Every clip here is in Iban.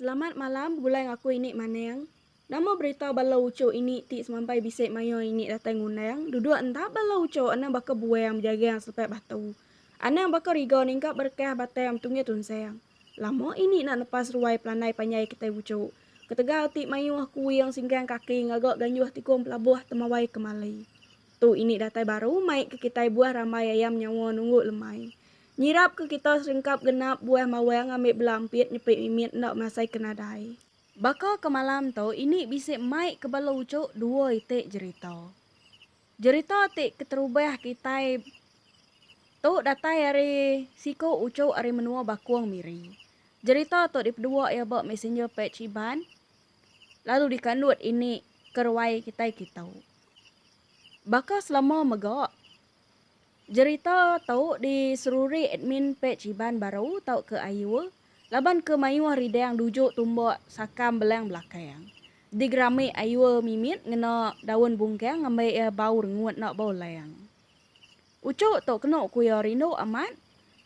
Selamat malam begulai ngaku ini maneng nama berita bala uchu ini ti semampai bisi mayuh ini datai ngundang duduk enda bala uchu anang baka buang bejagang selepai batu anang baka riga ningkap berekah batang betunggih tunsang lama ini nak nepas ruai pelandai panjai kitai uchu ketegal ti mayuh kuing singkang kaki ngaga ganjuh tikung pelabuh temawai kemali tu ini datai baru mai ke kitai buah rambai ayam nyawa nunggu lemai Nyirap ke kita serengkap genap buah mawang ngambi belampit nyepit mimit enda masai ke nadai. Baka ke malam tu ini bisi mai ke bala uchuk dua iti jerita. Jerita ti keterubah kitai tu datai ari siku uchuk ari menua Bakong Miri. Jerita tu dipedua iya ba messenger page Iban lalu dikandut ini ke ruai kitai kitu. Baka selama mega. Jerita tu diserurik admin pej Iban Baru tauka Ayu laban ke mayuh ridang duju tumbuk sakam belang belakang. Digerami Ayu mimit ngena daun bungkang ngambai iya bau rengut enda bau lang. Uchu tu kenu ku iya rindu amat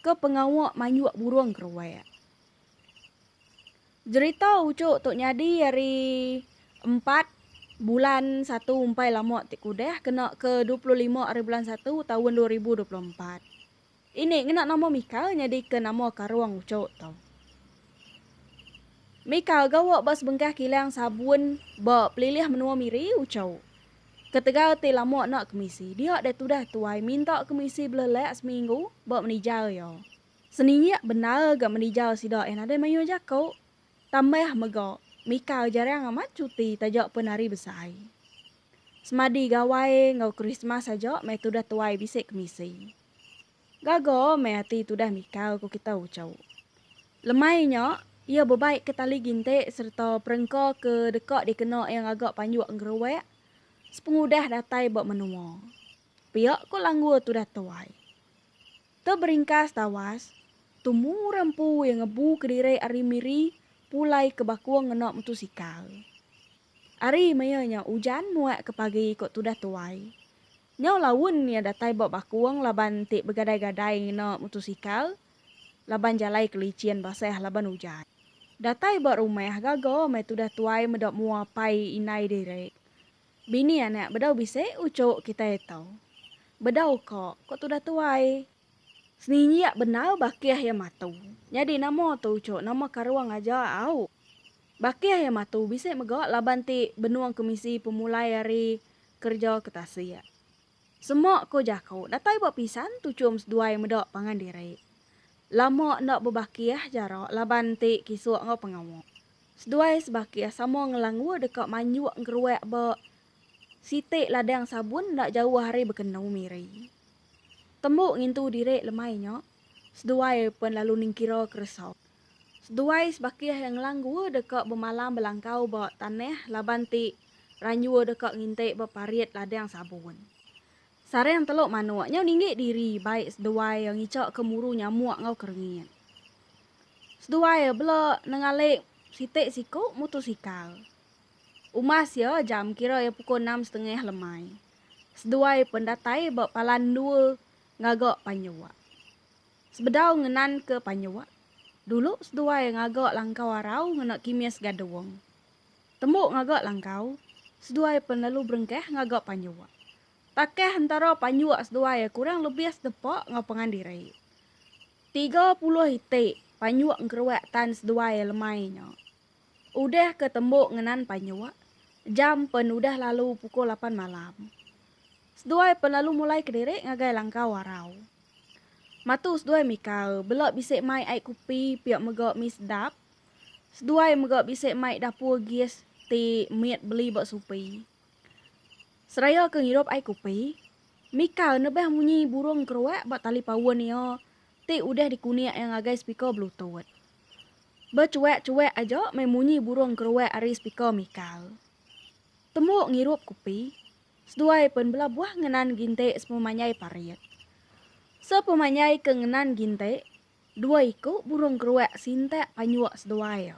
ke pengawa manjuk burung keruak. Jerita uchuk tu nyadi ari empat bulan satu umpai lama ti kudah kena ke dua puluh lima ari bulan satu taun dua ribu dua puluh empat ini ngena nama Mika nyadi ke nama karung uchuk tu. Mika gawa ba sebengkah kilang sabun ba pelilih menua Miri uchuk ketegal ti lama enda kemisi dia deh tudah tuai minta kemisi belelak seminggu ba menija iya. Seninyak bendar ga menija sida eh nadai mayuh jaku, tambah mega Mika jarang amat cuti taja pen hari besai. Semadi Gawai enggau Krismas aja meh tudah tuai bisi kemisi. Gaga meh ati tudah Mika ku kita uchu. Lemai nya, iya bebaikka tali ginti sereta perengka ke deka dikena iya ngaga panjuk engeruak sepengudah datai ba menua. Pia ko Langgua tudah tuai. Te beringkas tawas, tu mura empu iya ngebu kediri ari Miri pulai ke Bakung ngena mutusikal. Ari maya nya ujan muak ke pagi ko tudah tuai. Nyau laun iya datai ba Bakung laban enti begadai-gadai ngena mutusikal laban jalai ke licin basah laban ujan. Datai ba rumah gaga meh tudah tuai meda mua pai indai diri. Bini anak bedau bisi ucuk kitai tu. Bedau ka, ko tudah tuai. Seninjak bendar bakih iya matu. Nyadi nama tu ucuk nama karung aja au. Bakih iya matu bisi mega laban ti benung kemisi pemulai ari kereja ke tasik. Semok ko jaku datai ba pisan tu chum seduai meda pangan diri. Lama enda bebakih jara laban enti kisuk enggau pengawa. Seduai sebakih sama ngelangua deka manjuk engkeruak ba siti ladang sabun enda jauh ari bekenu Miri. Tembu ngintu diri lemai nya, seduai pen lalu ningkira keresa Seduai sebakih iya ngelanggua deka bemalam belangkau ba tanah laban ti ranjur deka nginti ba parit ladang sabun. Sarang telok manok nyau ninggik diri bai seduai iya ngicha ke muru nyamuk enggau kerengit. Seduai iya bela nengali siti siku mutosikal. Umas iya jam kira iya pukul enam setengah lemai. Seduai pen datai ba palan endur ngaga panjua. Sebedau ngenanka panyua, dulu seduai ngaga langkau arau ngena kimis gadung. Tembu ngaga langkau, seduai pen lalu berengkah ngaga panyua. Takah entara panyua seduai kurang lebih sedepa enggau pengan diri. Tiga puluh iti panyua engkeruak tan seduai lemai nya. Udah ke tembu ngenan panyua, jam pen udah lalu pukul lapan malam. Seduai pen lalu mulai kediri ngagai langkau arau. Matu seduai mikau bela bisi mai ai kupi pia mega mi sedap. Seduai mega bisi mai dapur gas ti mit beli ba supi. Seraya ke ngirup ai kupi, mikau nebeh munyi burung keruak ba tali paun iya ti udah dikunik iya ngagai speaker bluetooth. Bechuak-chuak aja meh munyi burung keruak ari speaker mikau. Tembu ngirup kupi. Seduai pen bela buah ngenan ginti sepemanjai parit. Sepemanjai ke ngenan ginti, dua iku burung keruak sintak panjuk seduai.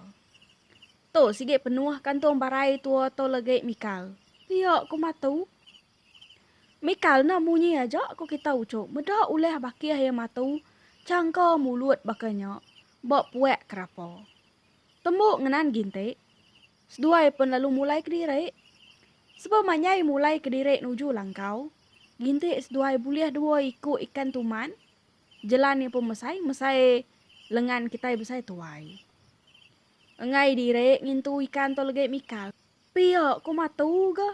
Tu sigi penuh kantung barai tua tu legi Mikal. Pia ku Matu. Mikal enda munyi aja ku kita uchu meda ulah bakih iya Matu changka mulut baka nya ba puak kerapa. Tembu ngenan ginti, Seduai pen lalu mulai kediri. Sebab manyai mulai kediri nuju langkau, ginti seduai bulih dua iku ikan tuman, jelan nya pun mesai mesai lengan kitai besai tuai. Enggai diri ngintu ikan tu legi Mikal. Pia ku matu ga.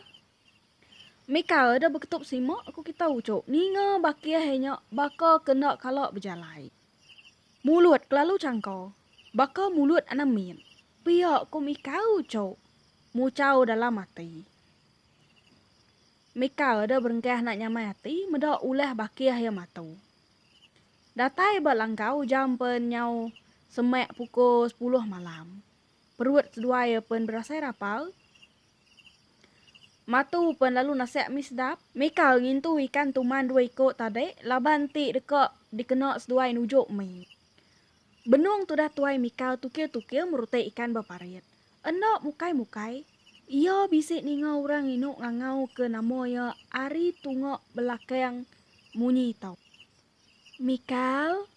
Mikal udah beketup sima ku kita uchu ninga bakih nya baka kenda kala bejalai. Mulut kelalu changka Baka mulut anak min. Pia ku mika ucok. Mucau dalam ati. Mika da berengkah nak nyamai ati meda ulah bakih iya matu. Datai ba langkau jam pen nyau semak puko sepuluh malam. Perut seduai iya pen berasai rapal. Matu pen lalu nasak mi sedap. Mika ngintu ikan tuman dua iko tadi laban ti deka dikena seduai nujuk mi. Benung tudah tuai Mikal tukil-tukil merutai ikan ba parit. Enda mukai-mukai, iya bisi ninga orang nginu ngangauka nama iya ari tunga belakang munyi tau. Mikal!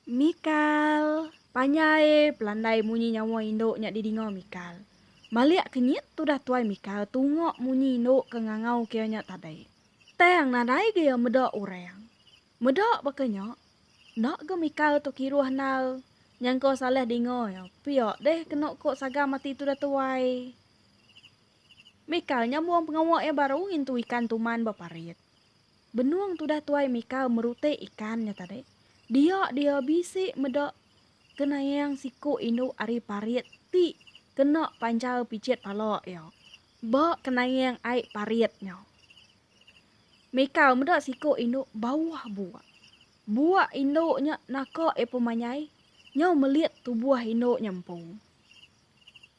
Mikal! Panjai pelandai munyi nyawa indu nya didinga Mikal. Malik kenyit tudah tuai Mikal tunga munyi indu ke ngangauka iya nya tadai. Tang nadai ga iya meda orang. Meda baka nya, enda ga mikal tu kiruh endar nyangka salah dinga iya. Pia deh kenu ko sagam ati tudah tuai. Mikal nyambung pengawa iya baru ngintu ikan tuman ba parit. Benung tudah tuai mikal merutik ikan nya tadi, dia dia bisi meda kenaing siku indu ari parit ti kena panjal pijit pala iya ba kenaing ai parit nya. Mikau meda siku indu bauh buak. Buak indu nya naka iya pemanyai nyau melit tubuh indu nya empu.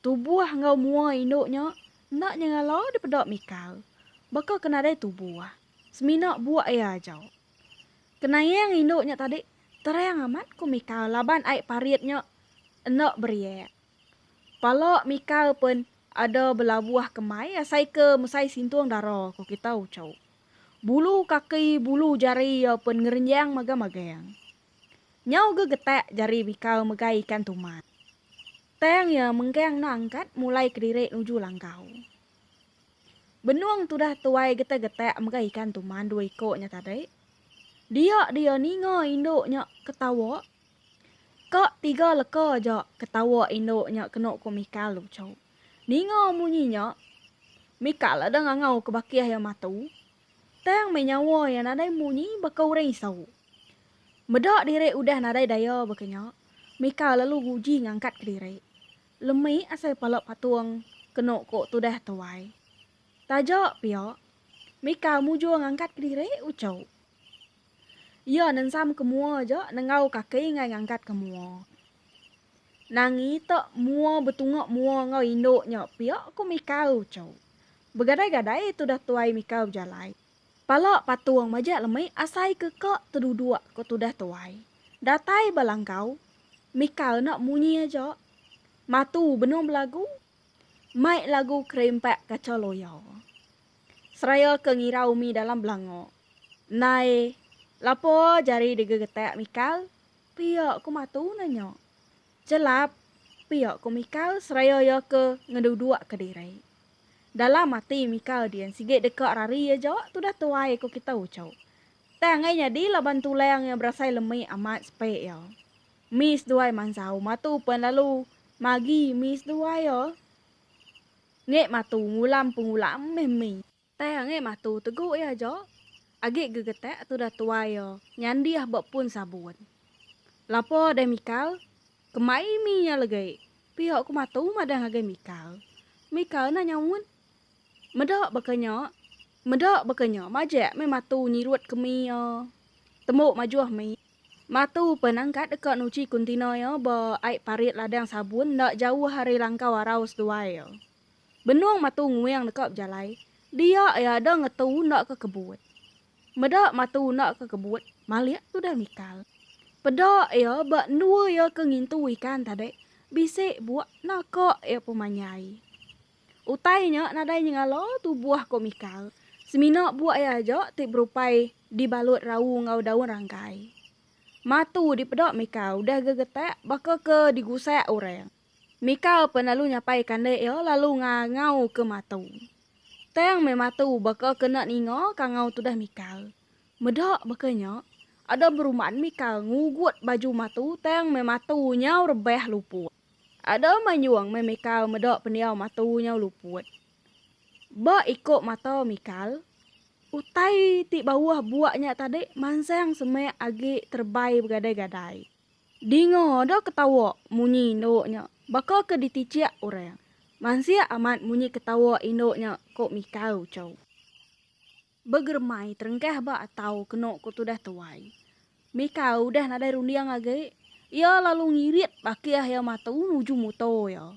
Tubuh enggau mua indu nya enda nyengala dipeda Mikau baka ke nadai tubuh semina buak iya aja. Kenaing indu nya tadi terang amat ku Mikau laban ai parit nya enda beriak. Pala Mikau pen Ada belabuh kemai asai ke mesai sintung dara ko kita ucau. Bulu kaki bulu jari iya pen ngerenjang magang-magang. Nyau ge getak jari bikau megai ikan tumat. Tang iya menggang enda angkat mulai kediri nuju langkau. Benung tudah tuai getak-getak megai ikan tuman dua iko nya tadi. Dia dia ninga indu nya ketawa. Ka tiga leka aja ketawa indu nya kenu ku Mikal lucu. Ninga munyi nya, Mikal ada ngangau ke bakih iya matu, tang meh nyawa iya nadai munyi baka orang isu. Meda diri udah nadai daya baka nya, Mikal lalu nguji ngangkat ke diri. Lemi asai pala patung kenu ku tudah tuai. Taja pia, Mikal mujur ngangkat ke diri uchu. Iya nensam ke mua aja nenggau kaki enggai ngangkat ke mua. Nangi te mua betunga mua enggau indu nya pia ku Mikau uchu. Begadai-gadai tudah tuai Mikau bejalai. Pala patung majak lemi asai ke ka teduduk ku tudah tuai. Datai ba langkau, Mikau enda munyi aja. Matu benung belagu. Mai lagu kerimpak kaca loya. Seraya ke ngira umi dalam belanga. Nai, lapo jari digegetak Mikal? pia ku Matu nanya. Chelap, pia ku Mikal seraya iya ke ngeduduk ke diri. Dalam ati Mikal din sigi deka rari aja tudah tuai ku kita uchu. Tang ngai nyadi laban tulang iya berasai lemi amat sepe iya. Mis duai mansau Matu pen lalu magi mis duai iya. Nge matu ngulam pengulam meh mi. Teh nge matu tegu iya jo. Agi gegetek tudah tuai iya nyandih ba pun sabun. Lapo deh mikal, kemai mi nya legi pia ku matu madah ngagai mikal. Mikal enda nyaut. Meda baka nya, meda baka nya majek meh matu nyirut ke mi iya. Tembu majoh mi. Matu pen engkat deka nuchi kuntina iya ba ai parit ladang sabun enda jauh ari langkau arau seduai iya. Benung Matu Nguing deka bejalai, dia iya ada ngetu enda ke kebut. Meda Matu enda ke kebut, Malik tudah mikal. Peda iya ba endua iya ke ngintu ikan tadi, bisi buak naka iya pemanyai. Utai nya nadai nyengala tubuh ko Mikal, semina buak iya aja ti berupai dibalut rau enggau daun rangkai. Mah tu dipeda Mikal udah gegetak baka ke digusak orang. Mikal pen lalu nyapai kandik iya lalu ngangau ke matu. Tang meh matu baka ke enda ninga kangau tudah Mikal. Meda baka nya, ada beruman Mikal ngugut baju matu tang meh matu nyau rebah lupuk. Ada manyuong meh Mikal meda pendiau matu nyau luput. Ba iko mata Mikal, utai ti bauh buak nya tadi mansang semek agi terebai begadai-gadai. Dinga da ketawa munyi indu nya baka ke ditichik orang. Mansik amat munyi ketawa indu nya ko Mikal uchu. Begeremai terengkah ba atau keno ko tudah tuai. Mika udah nadai runding agi, iya lalu ngirit bakih iya matu nuju muto iya.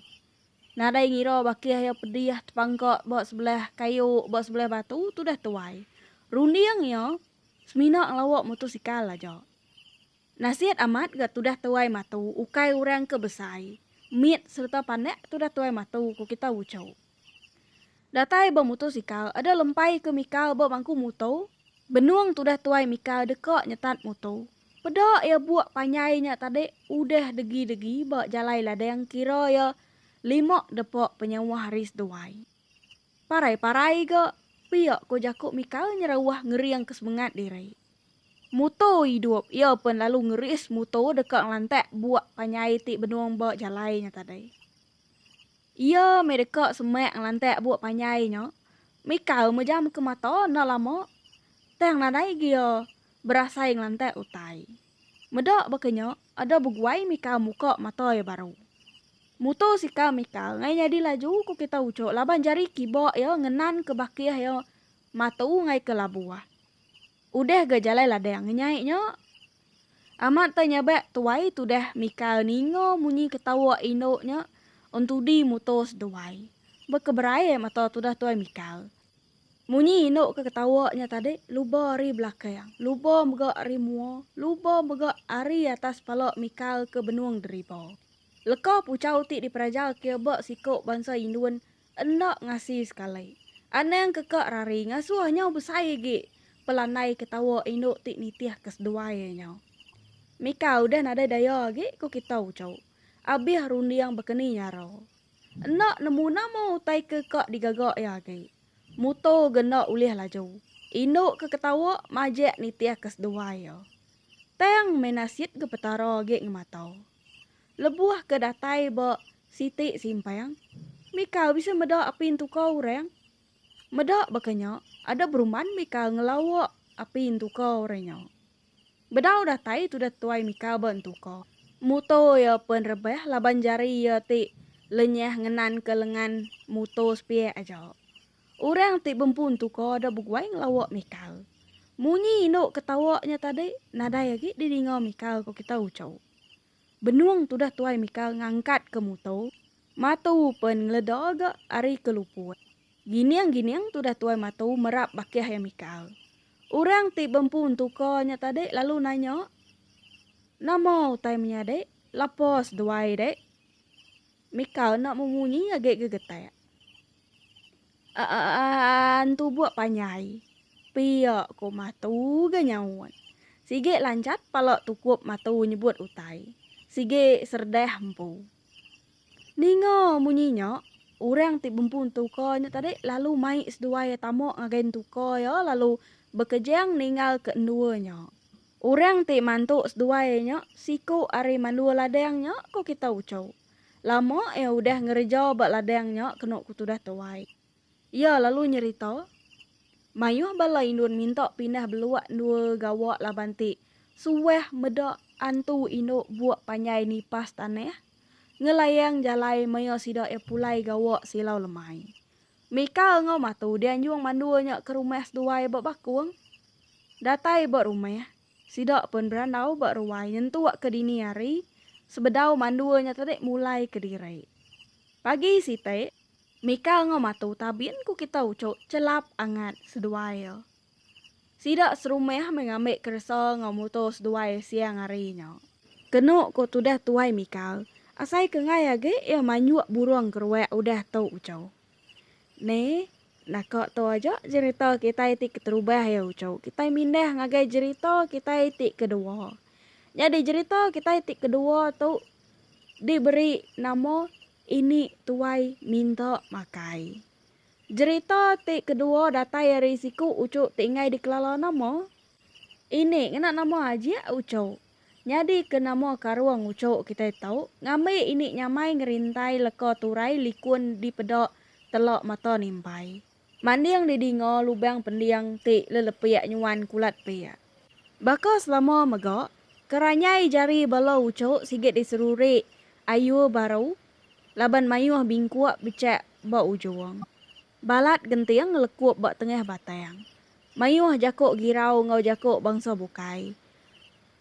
Nadai ngira bakih iya pedih tepangka ba sebelah kayu ba sebelah batu tudah tuai. Runding iya semina ngelawa motosikal aja. Nasihat amat ga tudah tuai matu ukai urang ke besai mit sereta pandak tudah tuai matu ku kita uco. Datai ba mutosikal ada lempai ke mikal ba bangku muto benung tudah tuai mikal deka nyetat muto peda iya buk panjai nya tadi udah degi degi ba jalai ladang kira iya lima depa penyauah ari seduai parai parai ga pia ko jaku mikal nyerawah ngering ke semengat diri. Mutor idup iya pen lalu ngeris mutor deka ngelantak buak panjai ti benung ba jalai nya tadai. Iya meh deka semak ngelantak buak panjai nya mikau mejam ke mata enda lama tang nadai agi iya berasai ngelantak utai. Meda baka nya ada beguai mikau muka mata iya baru. Mutor sikal mikau ngai nyadi laju ku kita ucuk laban jari kiba iya ngenanka bakih iya Mata Ungai ke labuh. Udah ga jalai ladang ngenyai nya. Amat tai nyabak tuai tudah mikal ninga munyi ketawa indu nya entudi muto seduai. Bekeberai mata tudah tuai mikal. Munyi indu ke ketawa nya tadi luba ari belakang, luba mega ari mua, luba mega ari atas pala mikal ke benung deriba. Leka puchau ti diperaja ke ba siko bansa Indun Enda ngasi sekali. Anang ke ka rari ngasuh nyau besai agi pelandai ke tawa indu ti nitih ke seduai iya nyau. Mika udah nadai daya agi ku kita uchu. Abih runding bekeni nyara. Enda nemu nama utai ke ka digaga iya agi. Muto ga enda ulih laju. Indu ke ketawa majak nitih ke seduai iya. Tang meh nasit ga Petara agi ngemata. Lebuh ke datai ba siti simpang, Mika bisi meda api entuka orang. Meda baka nya, ada berumban Mika ngelawa api entuka orang nya. Bedau datai tudah tuai Mika ba entuka. Muto iya pen rebah laban jari iya ti lenyah ngenanka lengan muto sepiak aja. Orang ti bempun tu ko da beguai ngelawa Mikal. Munyi indu ke tawa nya tadi nadai agi di dinga Mikal ko kita ucau. Benung tudah tuai Mikal ngangkat ke muto, matu pen ngeleda ga ari ke luput. Gining gining tudah tuai matu merap bakih iya Mikal. Orang ti bempun tu ko nya tadi lalu nanya, Nama utai menyadi? Lapa seduai dik? Mikal enda memunyi agi gegetak. Aan tubuk panjai. Pia ko matu ga nyaut. Sigi lancat pala tukup matu nyebut utai. Sigi serdah empu. Ninga munyi nya, orang ti bempu entuka nya tadi lalu mai seduai iya tama ngagai entuka iya lalu bekejang ninggal ke endua nya. Orang ti mantu seduai nya siku ari mandua ladang nya ko kita uchu. Lama iya udah ngereja ba ladang nya kenu ku tudah tuai. Iya lalu nyerita, Mayuh bala indun minta pindah belua endua gawa laban ti suah meda antu indu buk panjai nipas tanah ngelayang jalai maya sida iya pulai gawa silau lemai. Mikal enggau Matu dianjung mandua nya ke rumah seduai ba Bakung. Datai ba rumah. Sida pun berandau ba ruai nyentuk ke dini hari sebedau mandua nya tadi mulai ke diri. Pagi siti, Mika enggau Matu tabin ku kita ucuk chelap angat seduai. Sida serumah meh ngambi keresa enggau muto seduai siang hari nya. Kenu ko tudah tuai Mika, asai ke enggai agi iya manjuk burung keruak udah tu ucuk. Neh, Naka tu aja jerita kitai ti keterubah iya uchu. Kitai mindah ngagai jerita kitai ti kedua. Nyadi jerita kitai ti kedua tu diberi nama Ini Tuai Minta Makai. Jerita ti kedua datai ari siku uchu ti enggai dikelala nama. Ini ngena nama Ajik Ucho. Nyadi ke nama Karung Ucho kitai tau ngambi ini nyamai ngerintai leka turai likun dipeda telak mata nimpai. Manding didinga lubang pending ti lelepik nyuan kulat pik. Baka selama mega, keranyai jari bala Ucho sigi diseruri ayur baru laban mayuh bingkuk bechak ba ujung. Balat genting ngelekup ba tengah batang. Mayuh jaku girau enggau jaku bangsa bukai.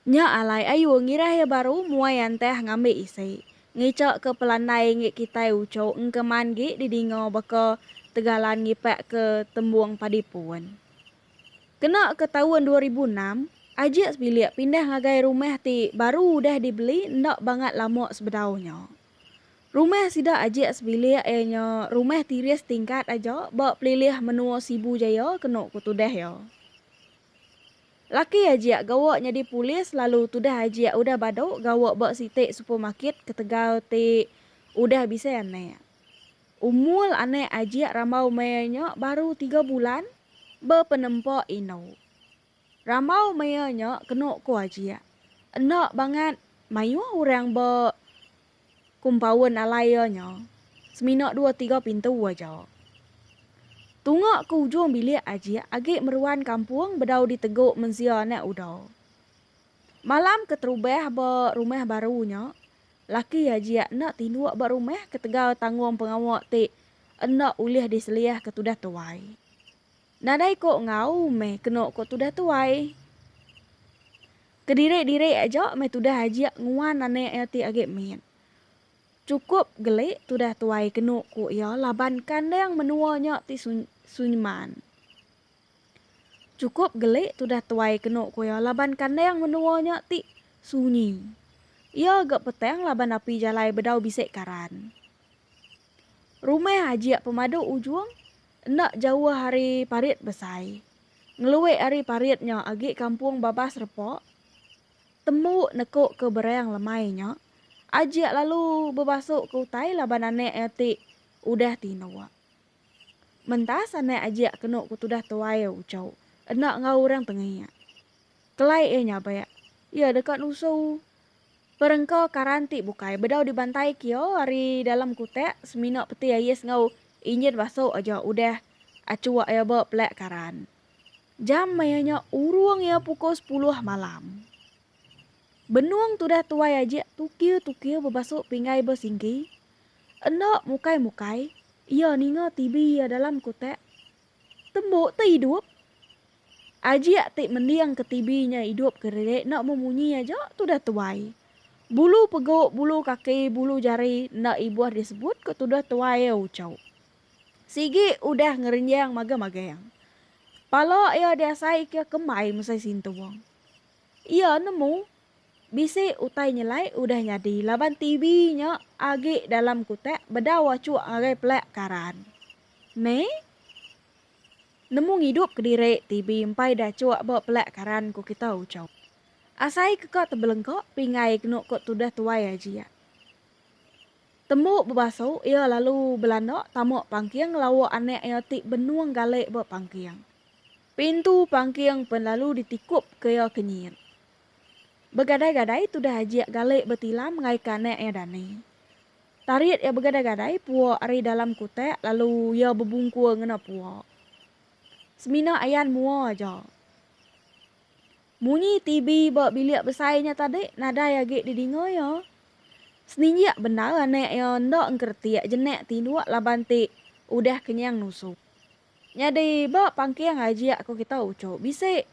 Nya alai ayu ngirah iya baru muai antah ngambi isi. Ngica ke pelandai ngi kitai uchu engkeman gi didinga baka tegalan ngipak ke tembung padi pun. Kena ke taun dua ribu enam, Ajik sebilik pindah ngagai rumah ti baru udah dibeli enda bangat lama sebedau nya. Rumah sida ajik sebilik iya nya rumah tiris tingkat aja ba pelilih menua Sibu Jaya kenu ku tudah iya. Laki ajik gawa nyadi polis lalu tudah ajik udah badu gawa ba siti supermarket ketegal ti udah bisi anak. Umul anak ajik rambau maya nya baru tiga bulan bepenempa indu. Rambau mea nya kenu ku Ajik. Enda bangat mayuh orang ba kumpaun alai iya nya. Semina dua tiga pintu aja. Tunga ke ujung bilik Ajik agi meruan kampung bedau ditegu mensia anak uda. Malam keterubah ba rumah baru nya, laki Ajik enda tinduk ba rumah ketegal tanggung pengawa ti enda ulih diseliah ke tudah tuai. Nadai ko enggau meh keno ko tudah tuai. Kediri-diri aja meh tudah ajik nguan anak iya ti agi mit. Chukup geli tudah tuai keno ko iya laban kandang menua nya ti sunyeman. Chukup geli tudah tuai keno ko iya laban kandang menua nya ti sunyi. Iya ga petang laban api jalai bedau bisi karan. Rumah ajik pemadu ujung Enda jauh ari parit besai, ngeluik ari parit nya agi kampung Babas Repa. Tembu neku ke berang lemai nya, Ajik lalu bebasu ke utai laban anak iya ti udah tinduk. Mentas anak Ajik kenu ke tudah tuai uchu enda enggau orang tengik. Kelai iya nyabak, iya deka nusu Perengka karan ti bukai bedau dibantai kia ari dalam kutak semina peti ais enggau injin basu aja udah achuk iya ba pelak karan. Jam maya nya urung iya pukul sepuluh malam. Benung tudah tuai ajik tukiu-tukiu bebasu pinggai ba singki. Enda mukai-mukai iya ninga TV iya dalam kutak. Tembu te idup! Ajik ti mending ke TV nya idup ke riri enda meh munyi aja tudah tuai. Bulu pegu, bulu kaki, bulu jari enda ibuh disebut ke tudah tuai iya uchau. Sigi udah ngerenjang magang-magang. Pala iya diasai ke kembai mesai sintung. Iya nemu bisi utai nyelai udah nyadi laban TV nya agi dalam kutak bedau achuk ngagai pelak karan. Meh. Nemu ngidup kediri ti beimpai dachuk ba pelak karan ku kita ucau. Asai ke ka tebelengka pingai kenu ko tudah tuai aji ya. Tembu bebasu iya lalu belanda tamuk pangking lauk anak iya ti benung galik ba pangking. Pintu pangking pen lalu ditikup ke iya kenyit. Begadai-gadai tudah ajik galik betilam ngaika anak iya dani. Tarit iya begadai-gadai pua ari dalam kutak lalu iya bebungkur ngena pua. Semina ayan mua aja. Munyi TV ba bilik besai nya tadi nadai agi didinga iya. Seninjik bendar anak iya enda engkeretik jenak tinduk laban ti udah kenyang nusu. Nyadi ba pangking ajik ko kita uchu bisi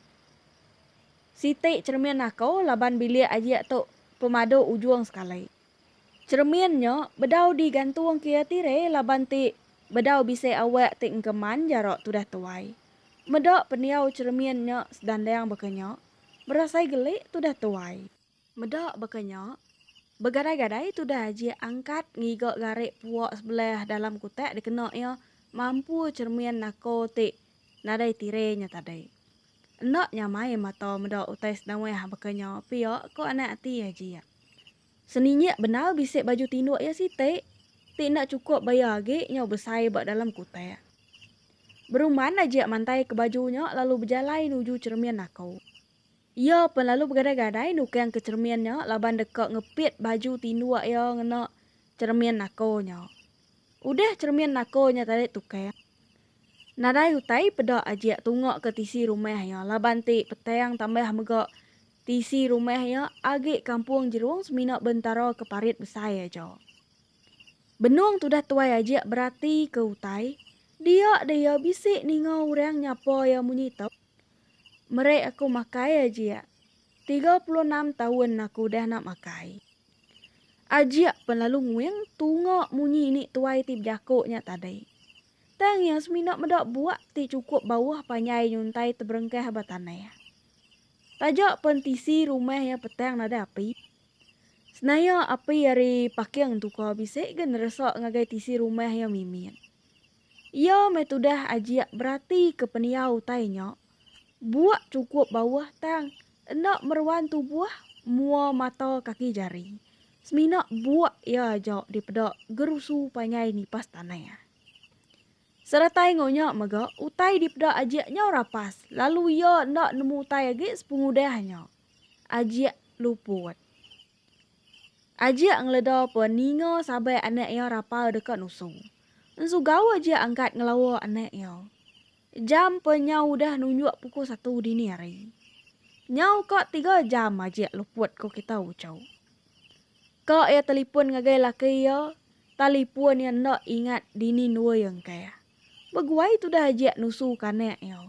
siti cheremin ako laban bilik ajik tu pemadu ujung sekali. Cheremin nya bedau di gantung kia tire laban ti bedau bisi awak ti engkeman jarak tudah tuai. Meda pendiau cheremin nya sedandang baka nya, berasai gelik tudah tuai. Meda baka nya, begadai-gadai tudah ajik angkat ngiga garik puak sebelah dalam kutak dikena iya mampu cheremin nako ti nadai tire nya tadi. Enda nyamai mata meda utai senawah baka nya pia ko anak ati ajik. Seninyik bendar bisi baju tinduk iya siti ti enda chukup baya agi nyau besai ba dalam kutak. Beruman Najik mantaika baju nya lalu bejalai nuju cheremin naku. Iya pen lalu begadai-gadai nukangka cheremin nya laban deka ngepit baju tinduk iya ngena cheremin naku nya. Udah cheremin naku nya tadi tukang, nadai utai peda Ajik tungaka tisi rumah iya laban ti petang tambah mega Tisi rumah iya agi kampung Jerung semina bentara ke parit besai aja. Benung tudah tuai ajik berati ke utai, dia deh iya bisi ninga orang nyapa iya munyi tu. Meri aku makai ajik. Tiga puluh enam taun aku udah enda makai. Ajik pen lalu nguing tunga munyi ni tuai ti bejako nya tadi. Tang iya semina meda buak ti cukup bauh panjai nyuntai teberengkah ba tanah. Taja pen tisi rumah iya petang nadai api. Senaya api ari paking tuka bisi ga neresa ngagai tisi rumah iya mimit. Iya meh tudah ajik beratika pendiau utai nya, buak chukup bauh tang enda meruan tubuh mua mata kaki jari, semina buak iya aja dipeda gerusu panjai nipas tanah. Seratai enggau nya mega, utai dipeda Ajik nyau rapas, lalu iya enda nemu utai agi sepengudah nya. Ajik luput. Ajik ngeleda pun ninga sabai anak iya rapal deka nusu. Ensu gawa Ajik angkat ngelawa anak iya. Jam pun nyau udah nunjuk pukul satu dini hari. Nyau ka tiga jam Ajik luput ko kita uchu. Ka iya telipun ngagai laki iya, talipun iya enda ingat dini ndua iya engkah. Beguai tudah ajik nusu kanak iya.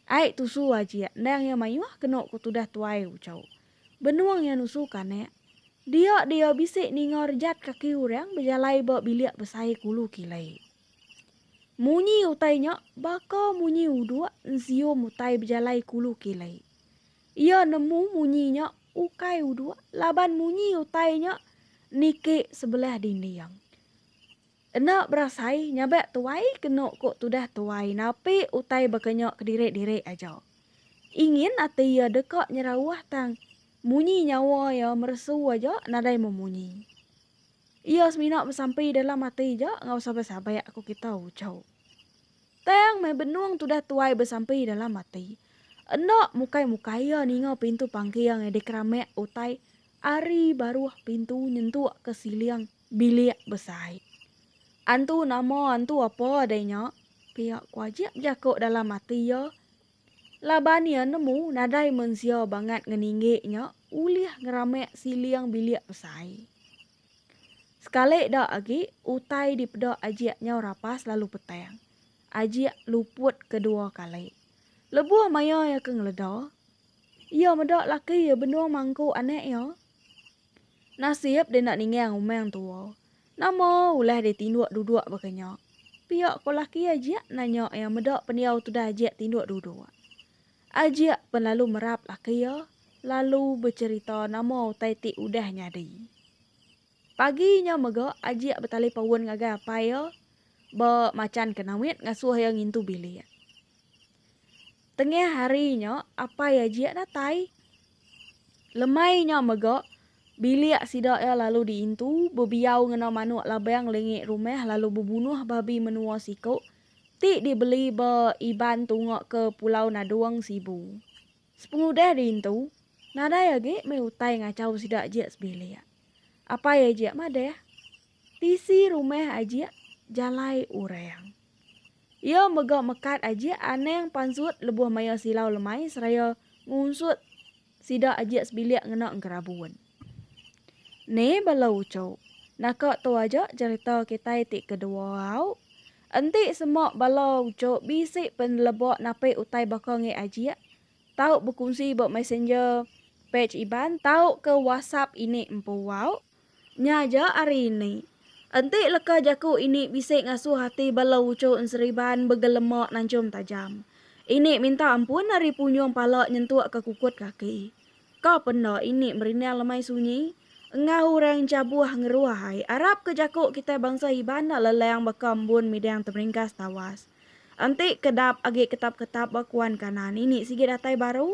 Ai tusu ajik endang iya mayuh kenu ku tudah tuai ucau. Benung iya nusu kanak, dia di iya bisi ninga rejat kaki urang bejalai ba bilik besai ke ulu kilai. Munyi utai nya baka munyi uduk ensium utai bejalai ke ulu kilai. Iya nemu munyi nya ukai uduk laban munyi utai nya niki sebelah dinding. Enda berasai nyabak tuai kenu ko tudah tuai napi utai baka nya kedirik-dirik aja. Ingin ati iya deka nyerauh tang munyi nyawa iya meresu aja nadai memunyi. Iya semina besampi dalam ati ja enggau sabak-sabak ko kita uchu. Tang meh benung tudah tuai besampi dalam ati. Enda mukai-mukai iya ninga pintu pangking dikeramak utai ari baruh pintu nyentuk ke siling bilik besai. Antu nama antu apa deh nya, pia ku Ajik bejaku dalam ati iya laban iya nemu nadai mensia bangat ngeninggi nya ulih ngeramak siling bilik besai. Sekali da agi, utai dipeda Ajik nyau rapas lalu petang. Ajik luput ke dua kali. Lebuh maya iya ke ngeleda, iya meda laki iya benung mangku anak iya. Nasib dia enda ningang umang tua. Nama ulah dia tinduk duduk baka nya? pia ko laki Ajik nanya iya meda pendiau tudah Ajik tinduk duduk. Ajik pen lalu merap laki iya lalu becherita nama utai ti udah nyadi. Pagi nya mega Ajik betalipaun ngagai apai iya ba machan ke Namit ngasuh iya ngintu bilik. Tengah hari nya apai Ajik datai. Lemai nya mega bilik sida iya lalu diintu bebiau ngena manuk labang lingi rumah lalu bebunuh babi menua siku ti dibeli ba Iban Tunga ke Pulau Nadong, Sibu. Sepengudah diintu, nadai agi meh utai ngachau sida ajik sebilik. Apai ajik madah, tisi rumah ajik jalai orang. Iya mega mekat ajik anang pansut lebuh maya silau lemai seraya ngunsut Sida ajik sebilik ngena engerabun. Ni bala uchu. Naka tu aja cerita kitai ti kedua au. Enti sema bala uchu bisi peneleba napi utai baka ngi ajik, tau bekunsi ba messenger page Iban tau ke whatsapp ini empu au. Nya aja ari ini. Enti leka jaku ini bisi ngasuh ati bala uchu enseriban begelema nanchum tajam. Ini minta ampun ari punjung pala nyentuk ke kukut kaki. Ka penda ini merindang lemai sunyi? Enggau orang chabuh ngeruah ai arap ke jaku kitai bansa Iban enda leleng baka embun midang temeringkas tawas. Enti kedap agi ketap-ketap ba kuan kanan ini sigi datai baru?